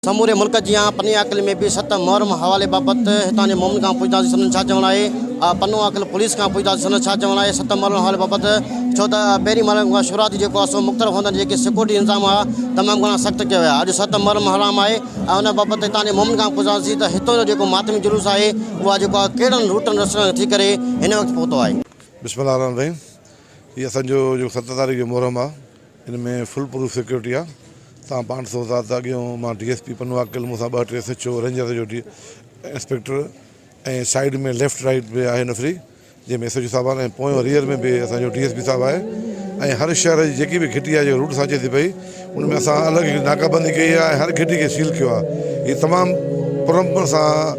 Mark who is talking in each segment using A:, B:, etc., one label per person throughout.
A: سموري ملڪ جيان پني عاقل ۾ به ست محرم حوالي بابت هتان جي مومن کان پڇداسين سندن ڇا چوڻ آهي؟ آء پنو عاقل پوليس کان پڇداسين سندن ڇا چوڻ آهي ست محرم حوالي بابت؟ ڇو ته پهرين محرم کان شروعات جي جيڪو اسو مختلف هندن جي جيڪي سيڪورٽي انتظام هئا تمام گهڻا سخت ڪيا ويا اڄ ست محرم حرام آهي آء ان بابت هتان جي مومن کان پڇداسين ته هتون جو جيڪو ماتمي جلوس آهي اهو آء جيڪو آء ڪهڙن روٽن رستن کان ٿي ڪري هن وقت پهتو آهي. بسم الله الرحمن الرحيم
B: هي اسان جو جيڪو ست تاريخ جو محرم آ. ان ۾ فل پروف سيڪيورٽي آ تان پانچ سو سات اڳيون مان D S P Pano Aqil مون سان ٻه ٽي سچ رينجر جو D inspector ۽ side ۾ left right به آهي نفري جنهن ۾ سچ صاحب ۽ پويون ريئر ۾ به اسان جو ڊي ايس پي صاحب آهي ۽ هر شهر جي جيڪي به گهٽي آهي جو روٽ سان اچي ٿي پئي ان ۾ اسان الڳ ناڪابندي ڪئي آهي ۽ هر گهٽي کي سيل ڪيو آهي هي تمام پرامن سان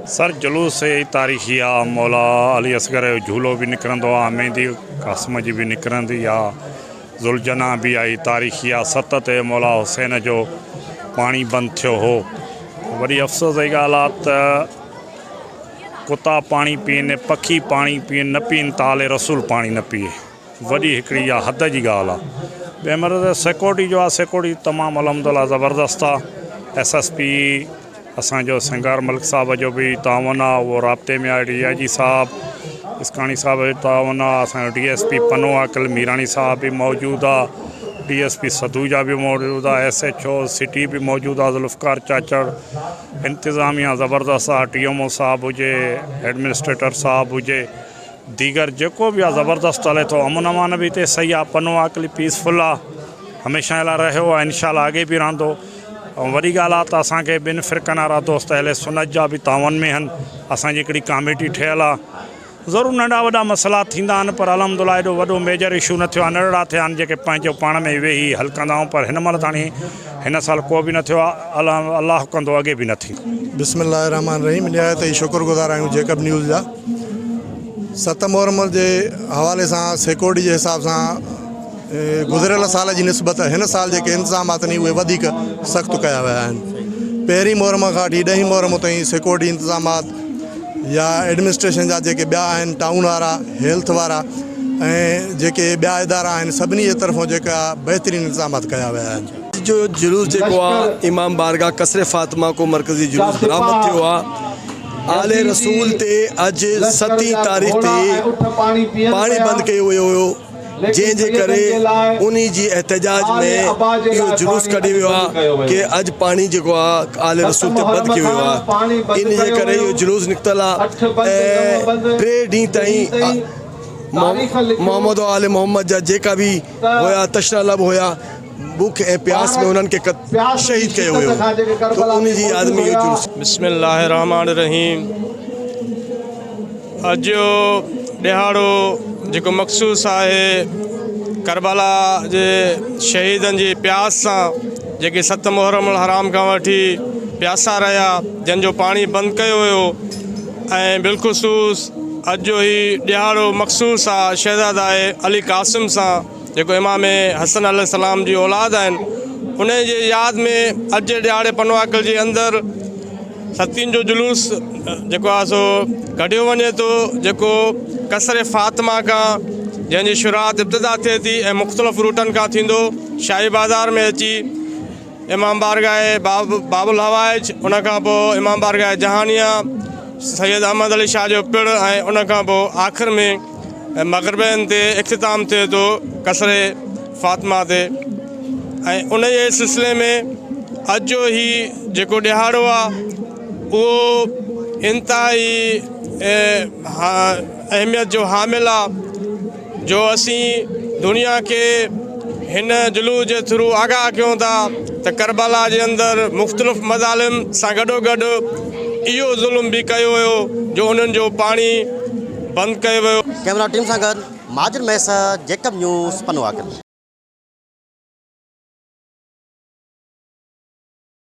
B: سر جلوس سي
C: ئي تاريخي آ، مولا علي اصغر جو جهولو به نڪرندو آ، مهندي قاسم جي به نڪرندي آ، ذوالجناح به آ ئي تاريخي آ، ست تي مولا حسين جو پاڻي بند ٿيو هو. وڏي افسوس جي ڳالهه آ ته ڪتا پاڻي پين، پکي پاڻي پين، نه پين ته آل رسول پاڻي نه پيئي. وڏي هڪڙي اها حد جي ڳالهه آ ٻئي مرض جا سيڪورٽي جو آ سيڪورٽي تمام الحمدالله زبردست آ ايس ايس پي اسان جو سنگار ملڪ صاحب جو به تعاون آ اهو رابطي ۾ آ ڊي آء جي صاحب اسڪاڻي صاحب جو تعاون آ اسان جو D S P Pano Aqil Mirani صاحب به موجود آ ڊي ايس پي سدوجا به موجود آ ايس ايچ او سٽي به موجود آ ذوالفقار چاچڙ انتظاميا زبردست آ ٽي ايم او صاحب هجي ايڊمنسٽريٽر صاحب هجي ديگر جيڪو به آ زبردست هلي ٿو امن امان به هتي صحيح آ پنو آڪلي پيسفل آ هميشه لاء رهيو آ انشاء الله آڳي به رهندو ۽ وڏي ڳالهه آ ته اسان کي ٻن فرقن وارا دوست اهل سنت جا به تعاون ۾ هن اسان جي هڪڙي ڪاميٽي ٺهيل آ ضرور ننڍا وڏا مسئلا ٿيندا آهن پر الحمدالله ايڏو وڏو ميجر اشو نه ٿيو آ نرڙا ٿيا آهن جيڪي پنهنجو پاڻ ۾ ويهي حل ڪندا آهيون پر هن مهل تاڻي هن سال ڪو به نه ٿيو آ الحم الله ڪندو اڳي به نه ٿيندو. بسم الله الرحمٰن الرحيم
D: نهايت ئي شڪر گذار آهيون جيڪب نيوز جا ست محرم جي حوالي سان سيڪورٽي جي حساب سان گذريل سال جي نسبت هن سال جيڪي انتظام آتن اهي وڌيڪ سخت ڪيا ويا آهن پهرين محرم کان وٺي ڏهين محرم تائين سيڪورٽي انتظامات يا ايڊمنسٽريشن جا جيڪي ٻيا آهن ٽائون وارا هيلٿ وارا ۽ جيڪي ٻيا ادارا آهن سڀني جي طرفون جيڪا بهترين انتظامات ڪيا ويا آهن. اڄ جو جلوس جيڪو
E: آ امام بارگاھ قصر فاطمه کون مرڪزي جلوس برآمد ٿيو آ آل رسول تي اڄ ستين تاريخ تي پاڻي بند ڪيو ويو هيو. جنهن جي ڪري انهي جي احتجاج ۾ اهو جلوس ڪڍي ويو آ ڪي اڄ پاڻي جيڪو آ آل رسول تي بند ڪيو ويو آ انهي جي ڪري اهو جلوس نڪتل آ ۽ ٽي ڏينهن تائين محمد و آل محمد جا جيڪا به هيا تشنه لب هيا بک ۽ پياس ۾ انهن کي شهيد ڪيو ويو ته ان جي ياد ۾ اهو جلوس بسم الله الرحمٰن
F: الرحيم اڄ جو ڏهاڙو جيڪو مخصوص آهي ڪربلا جي شهيدن جي پياس سان جيڪي ست محرم الحرام کان وٺي پياسا رهيا جن جو پاڻي بند ڪيو ويو ۽ بالخصوص اڄ جو هي ڏهاڙو مخصوص آهي شهزاده علي قاسم سان جيڪو امام حسن عليه السلام جي اولاد آهن انهن جي ياد ۾ اڄ جي ڏهاڙي پنواڪل جي اندر ستين جو جلوس جيڪو آهي سو ڪڍيو وڃي ٿو جيڪو قصر فاطمه کان جنهن جي شروعات ابتدا ٿئي ٿي ۽ مختلف روٽن کان ٿيندو شاهي بازار ۾ اچي امام بارگاهه باب باب الحوائج ان کان پوء امام بارگاهه جهانيه سيد احمد علي شاهه جو پڙ ۽ ان کان پوء آخر ۾ مغربين تي اختتام ٿئي ٿو قصر فاطمه تي ۽ ان جي سلسلي ۾ اڄ جو هي جيڪو ڏهاڙو آهي اهو انتهائي اهميت جو حامل آهي جو اسين دنيا کي هن جلوس جي ٿرو آگاهه ڪيون ٿا ته ڪربلا جي اندر مختلف مظالم سان گڏو گڏ اهو ظلم به ڪيو ويو جو انهن جو پاڻي بند
A: ڪيو ويو.
F: ڪيمرا
A: ٽيم سان گڏ مهاجر ميسر، جيڪب نيوز، پنواڪل.